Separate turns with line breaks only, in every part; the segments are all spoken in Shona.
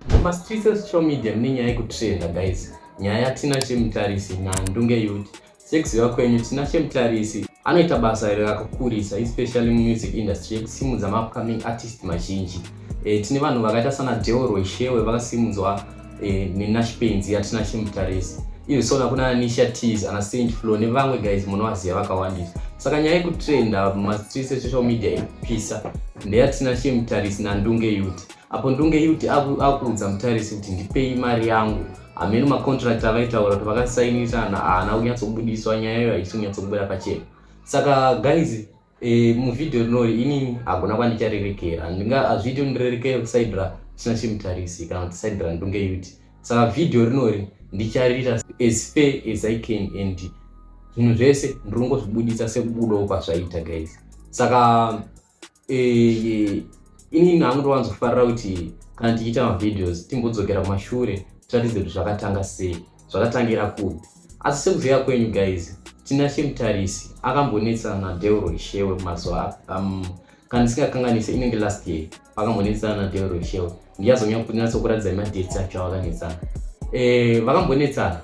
Mumastreets esocial media mune nyaya yekutrenda guys. Nyaya tina chemutarisi nhandu ngeyuti. Sekuziva kwenyu tina chemutarisi anoita basa iri rakakurisa especially mumusic industry yekusimudza maupcoming artist mazhinji. E, tine vanhu vakaita sana Deo Rweshewe vakasimudzwa e, eh, nenashipenzi yatina chemutarisi even so nakuna anisha teas ana saint flow nevamwe guys munovaziva vakawandisa saka nyaya yekutrenda mumastreets esocial media inopisa ndeyatina chemutarisi nandunge yuti apo ndunge yuti akuudza mutarisi kuti ndipei mari yangu hameno macontract avaitaura kuti vakasainisana haana kunyatsobudiswa nyaya iyo haisi kunyatsobuda pachena saka guys e, muvhidhiyo rinori inini hagona kwandicharerekera ndinga hazviiti undirerekere kusaidra chisina chimutarisi kana kuti saidra ndunge yuti saka vhidhiyo rinori ndichariita as fair as i can and zvinhu zvese ndiri kungozvibudisa sekubudawo kwazvaita guys saka Eh, ini hangu ndowanzofarira kuti kana tichiita mavideos timbodzokera kumashure tiratidze kuti zvakatanga sei zvakatangira kupi asi sekuziva kwenyu guys tina chemutarisi akambonetsana nadeuro ishewe mazuva um, kana ndisingakanganise inenge last year vakambonetsana nadeuro ishewe ndiyazonyatsokuratidza madates acho avakanetsana eh, vakambonetsana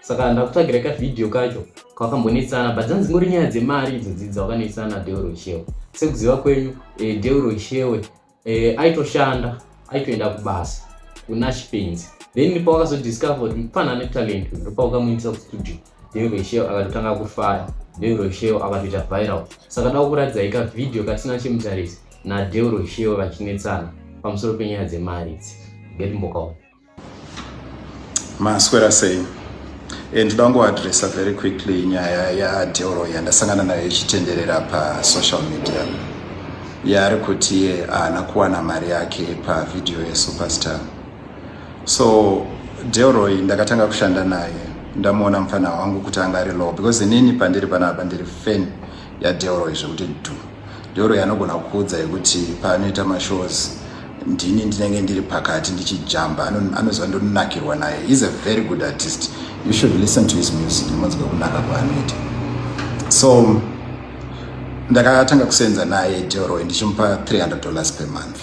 saka ndakutsvagira ka video kacho kwakambonetsana but dzanzi ngori nyaya dzemari idzo dzidza wakanetsana deuro shewe sekuziva kwenyu eh, deuro shewe eh, aitoshanda aitoenda kubasa kuna chipenzi then pawakazodiscover kuti mupana ane talent ndopaukamuindisa kustudio deuro shewe akatotanga kufaya deuro shewe akatoita viral saka da kukuratidzai ka video kasina chemutarisi nadeuro shewe vachinetsana pamusoro penyaya dzemari idzi ndetimbokaona maswera sei e ndoda kungoadressa very quickly nyaya yadeoro yandasangana nayo ichitenderera pasocial media yaari kuti iye haana kuwana mari yake pavhidhiyo yesuperstar so deoroy ndakatanga kushanda naye ndamuona mupfanha wangu kuti anga ari low because inini pandiri panapa ndiri fan yadeoroy zvekuti du Doro yanogona kukuudza yekuti paanoita mashows ndini ndinenge ndiri pakati ndichijamba anoziva ndonakirwa naye is a very good artist you should listen to his music ndimonzwa kunaka kwaanoita so ndakatanga kusenza naye deroy ndichimupa 300 dollars per month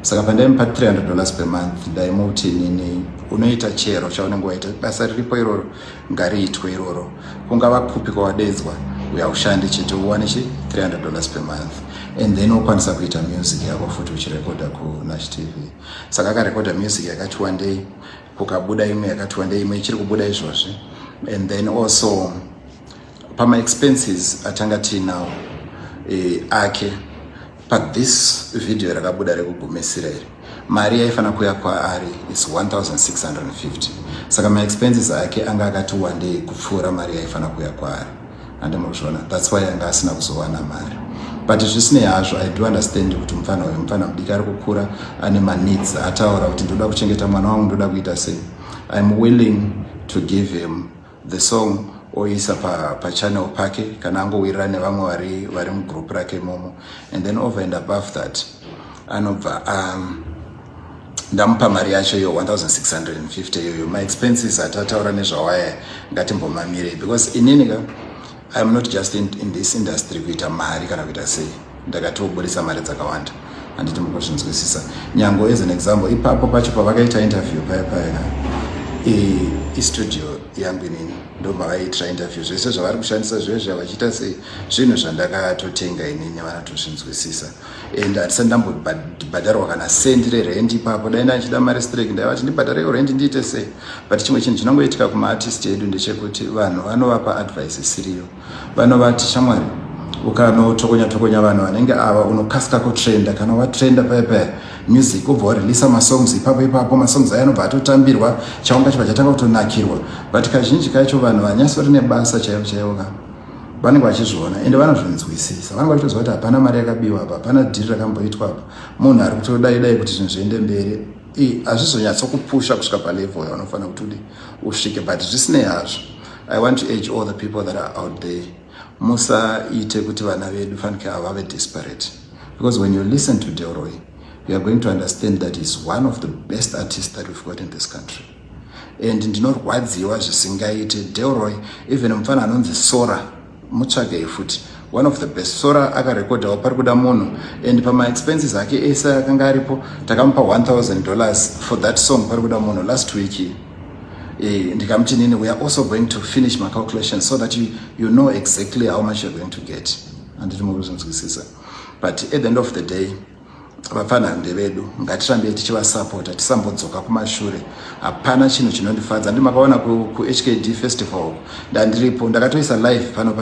saka pandaimupa 300 dollars per month ndaimuti nini unoita chero chaunenge waita basa riripo iroro ngariitwe iroro kungava kupi kwawadeedzwa uya ushande chete uwane chi 300 dollars per month and then wokwanisa kuita music yako futi uchirekodha kunash tv saka akarekodha music yakati wandei kukabuda imwe yakati wandei imwe ichiri kubuda izvozvi and then also pamaexpenses atanga tiinawo e, ake pa this video rakabuda rekugumisira iri mari yaifanira kuya kwaari is 1650 saka maexpenses ake anga akati wandei kupfuura mari yaifanira kuya kwaari hande muzviona thats why anga asina kuzowana mari but zvisinei hazvo i do understand kuti mupfana uyu mupfana mudiki ari kukura ane maneeds ataura kuti ndoda kuchengeta mwana wangu ndoda kuita sei iam willing to give him the song oisa pa, pa channel pake kana angowirirana nevamwe vari vari mugroup rake momo and then over and above that anobva um, ndamupa mari yacho yo 1650 iyoyo maexpenses atataura nezvawaya ngatimbomamirei because inini ka I am not just in, in this industry kuita mari kana kuita sei ndakatoburitsa mari dzakawanda handiti mukuzvinzwisisa nyango as an example ipapo pacho pavakaita interview paya paya istudio yangu inini ndomavaiitira interview zvese zvavari kushandisa zvezvi avachiita sei zvinhu zvandakatotenga inini vanatozvinzwisisa and hatisati ndambobhadharwa kana sendi rerent ipapo dai ndaichida mari strek ndaivati ndibhadhare yo rent ndiite sei but chimwe chinhu chinongoitika kumaartist edu ndechekuti vanhu vanovapa advice isiriyo vanovati shamwari ukanotokonya tokonya vanhu vanenge ava unokasika kutrenda kana watrenda paya paya music ubva warelisa masongs ipapo ipapo masongs aya anobva atotambirwa chaunga chibva chatanga kutonakirwa but kazhinji kacho vanhu vanyasori nebasa chaivo chaivo ka vanenge vachizviona ende vanozvinzwisisa vanenge vachitoziva kuti hapana mari yakabiwa apa hapana dhiri rakamboitwa apa munhu ari kutodai dai kuti zvinhu zviende mberi hazvizonyatsokupusha kusvika palevel yaunofanira kuti udi usvike but zvisinei hazvo i want to age all the people that are out there musaite kuti vana vedu fanike ava vave desperate because when you listen to delroy you are going to understand that he's one of the best artists that we've got in this country and ndinorwadziwa zvisingaite delroy even mupfana anonzi sora mutsvagei futi one of the best sora akarekodhawo pari kuda munhu and pamaexpenses ake ese akanga aripo takamupa 1000 dollars for that song pari kuda munhu last week e, eh, ndikamuti nini weare also going to finish macalculation so that you, you know exactly how much you're going to get anditi mukuzinzwisisa but at the end of the day vapfanha ndevedu ngatirambe tichivasapota tisambodzoka kumashure hapana chinhu chinondifadza ndi makaona kuhkd ku festival ndandiripo ndakatoisa live pano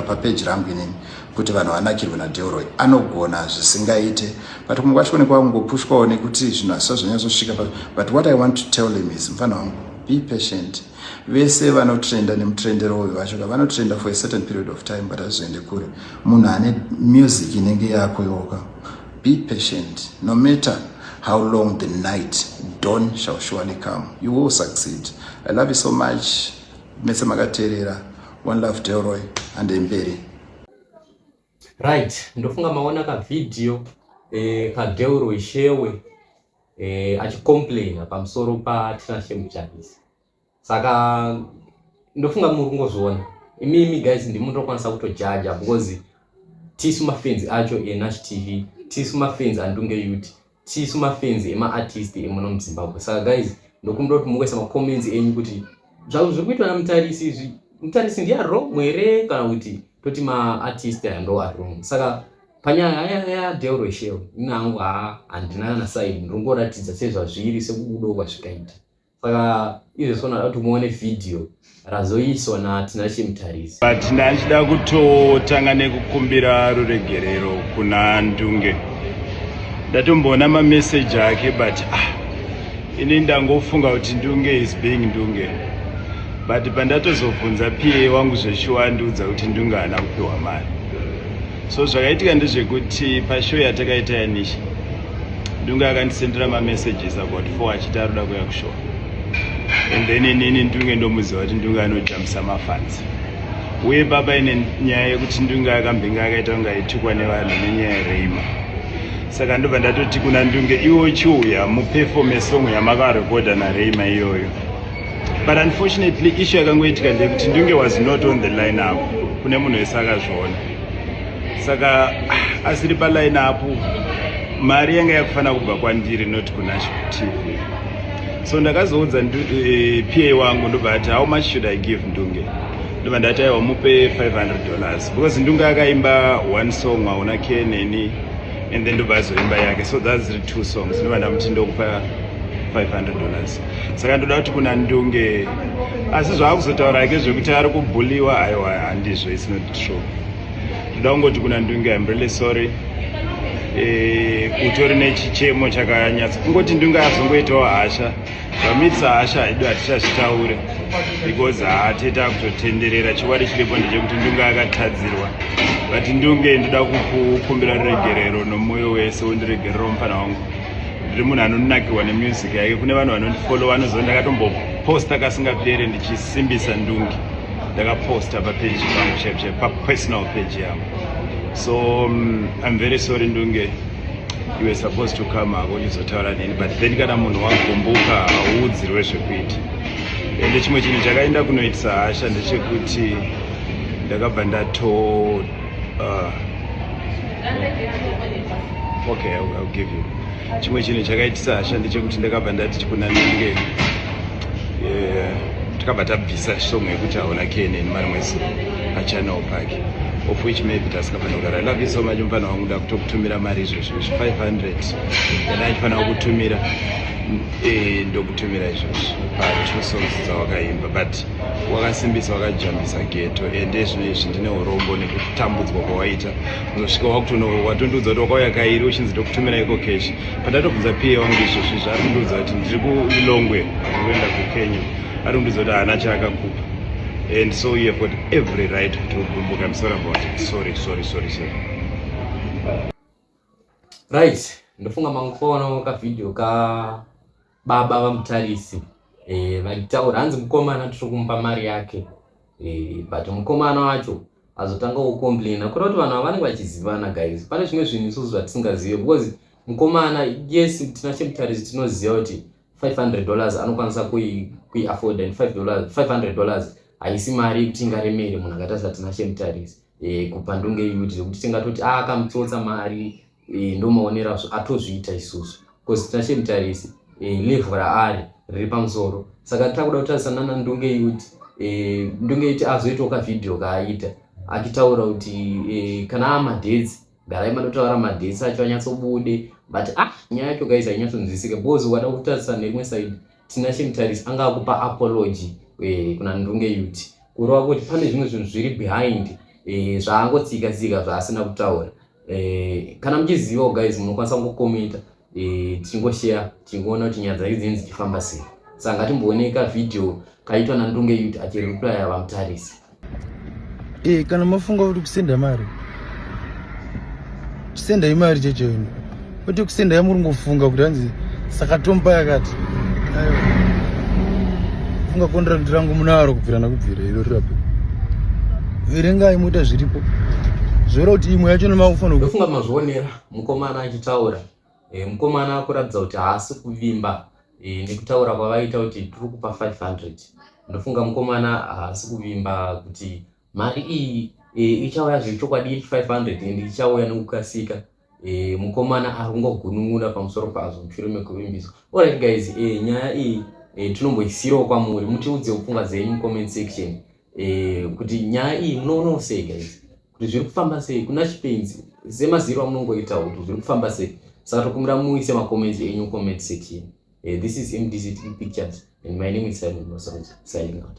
papeji pa rangu inini kuti vanhu vanakirwe nadeoroy anogona zvisingaite but kumwe kwacho kunekwa kungopushwawo nekuti zvinhu hasisa zvanyazosvika but what i want to tell him is mfanha wangu be patient vese vanotrenda nemutrendero uyu vacho ka vanotrenda for a certain period of time but hazvizoende kure munhu ane music inenge yakuyoka be patient no matter how long the night don shall surely come you will succeed i love you so much mese makateerera one love delroy hande mberi right ndofunga maona kavhidhiyo eh, kadelroy shewe eh, achicomplaina pamusoro patinashe muchabisa saka ndofunga muri kungozviona imimi guys ndimunotokwanisa kutojaja because tisu mafenzi acho enash tv tisu mafenzi andunge yut tisu mafenzi emaartist emuno muzimbabwe saka guys ndokumbira kuti mukuisa macomments enyu kuti zvazvo zviri kuitwa namutarisi izvi mutarisi ndiye ari wrong here kana kuti toti maartist aya ndo ari wrong saka panyaya yaya deal reshel ini hangu haa handina kana saidi ndinongoratidza sezvazviri sekubudawo kwazvikaita saka izvo sona kuti muone vhidhiyo razoiswa natina chimutarisi but ndachida kutotanga nekukumbira ruregerero kuna ndunge ndatomboona mameseji ake but ah, ini ndangofunga kuti ndunge is being ndunge but pandatozobvunza pa wangu zveshuwa andiudza kuti ndunge haana kupiwa mari so zvakaitika ndezvekuti pashow yatakaita yanisha ndunge akandisendera mamessages about four achiti aroda kuya kushow and then inini ndunge ndomuziva kuti ndunge anojamisa mafanzi uye baba ine nyaya yekuti ndunge akambinga akaita kunge aitukwa nevanhu nenyaya yereima saka ndobva ndatoti kuna ndunge iwo chiuya mupefome song yamakarekodha nareima iyoyo but unfortunately issue yakangoitika ndeyekuti ndunge was not on the line up kune munhu wese akazviona saka ah, asiri paline up mari yanga yakufanira kubva kwandiri not kunational tv so ndakazoudza eh, pa wangu ndobva ati how much should i give ndunge ndobva ndati aiwa mupe 500 dollars because ndunge akaimba one song waona ke neni and then ndobva azoimba yake so thats the two songs ndobva ndamuti ndokupa 500 dollars saka ndoda kuti kuna ndunge asi zvaakuzotaura ake zvekuti ari kubhuliwa aiwa handizvo is not true ndoda kungoti kuna ndunge im really sorry eh, utori nechichemo chakanyatsa kungoti ndunge azongoitawo hasha zvamitisa hasha haidu hatichazvitaure because haatete akutotenderera chiwari chiripo ndechekuti ndunge akatadzirwa but ndunge ndoda kukukumbira ruregerero nomwoyo wese wondiregerero mufana wangu ndiri munhu anonakirwa nemusic yake kune vanhu vanondifollowa anoziva ndakatomboposta kasingapere ndichisimbisa ndungi ndakaposta papeji pangu chaipo chaipo papersonal page yangu so um, im very sorry ndunge you were supposed to come hako ndizotaura neni but then kana munhu wagumbuka hauudzirwe zvekuita ende chimwe chinhu chakaenda kunoitisa hasha ndechekuti ndakabva ndatoa Uh, okay, I'll, I'll give you. Chimwe chinhu chakaitisa hasha ndechekuti ndakabva ndati chikunanenge eh, takabva tabvisa song yekuti haona kene nemari mwese pachannel pake of which maybe tasingafanira kudaro i love you so much mufana wangu nda kutokutumira mari izvozvo izvi 500 kana achifanira kukutumira eh, ndokutumira izvozvo pa two songs dzawakaimba but wakasimbisa wakajambisa geto ende zvino izvi ndine urombo nekutambudzwa kwawaita unosvika wakutono watondiudza kuti wakauya kairi uchinzi ndokutumira iko kesh pandatobvunza pa wangu izvozvi zvaari kundiudza kuti ndiri kulilongwe kuenda kukenya ari kundiudza kuti haana chaakakupa and so you have got every right kuti ugumbuka msora about it sorry sorry sorry sorry right ndofunga mangu kwaonawo kavideo ka Baba vaMutarisi eh, vaitaura hanzi mukomana tiri kumupa mari yake eh, but mukomana wacho azotanga kucomplaina kuda kuti vanhu vavanenge vachizivana guys pane zvimwe zvinhu isusu zvatisingazive because mukomana yes tina chemutarisi tinoziva kuti 500 dollars anokwanisa kuiafforda and 500 dollars haisi mari yekuti ingaremere munhu akatarisa tina chemutarisi eh, kupandunge yuti zvekuti tingatoti ah, akamutsotsa mari eh, ndomaonera atozviita isusu bcause tinashe mutarisi eh, levhu raari riri pamusoro saka takuda kutarisa nana ndunge yuti eh, ndunge yuti azoitawo kavhidhiyo kaaita achitaura kuti eh, kana amadhedzi garai matotaura madhedzi acho anyatsobude but ah nyaya yacho guys ainyatsonzwisika bcause ukada kutarisa nerimwe side tinashe mutarisi anga akupa apology eh, kuna ndunge yuti kurova kuti pane zvimwe zvinhu zviri behind eh, zvaangotsika tsika zvaasina kutaura eh, kana muchizivawo guys munokwanisa kungokomenta eh, tichingoshare tichingoona kuti nyaya dzake dzinenzi dzichifamba sei saka ngatimboonei ka video kaitwa nandunge yut achireplya vamutarisi e, kana mafunga kuti kusenda mari kusenda imari checheino kwete kusenda yamuri ngofunga kuti hanzi saka tomba yakati funga kondirandi rangu munaro kubvira nakubvira iro rirape verengai moita zviripo zvoera kuti imwe yacho nemaufandofunga mazvionera mukomana achitaura e, mukomana akuratidza kuti haasi kuvimba e, nekutaura kwavaita kuti tiri kupa 500 ndofunga mukomana haasi kuvimba kuti mari iyi e, ichauya zvechokwadi 500 and ichauya nekukasika e, mukomana ari kungogunun'una pamusoro pazvo mushure mekuvimbiswa orit guys e, nyaya iyi e, tinomboisirawo kwamuri mutiudzewo pfungwa dzenyu mucomment section e, kuti nyaya iyi munoonawo sei guys kuti zviri kufamba sei kuna chipenzi semaziro amunongoitawo kuti zviri kufamba sei saka tokumbira muise macomments enyu comment section e, this is mdct pictures and my name is simon masoja signing out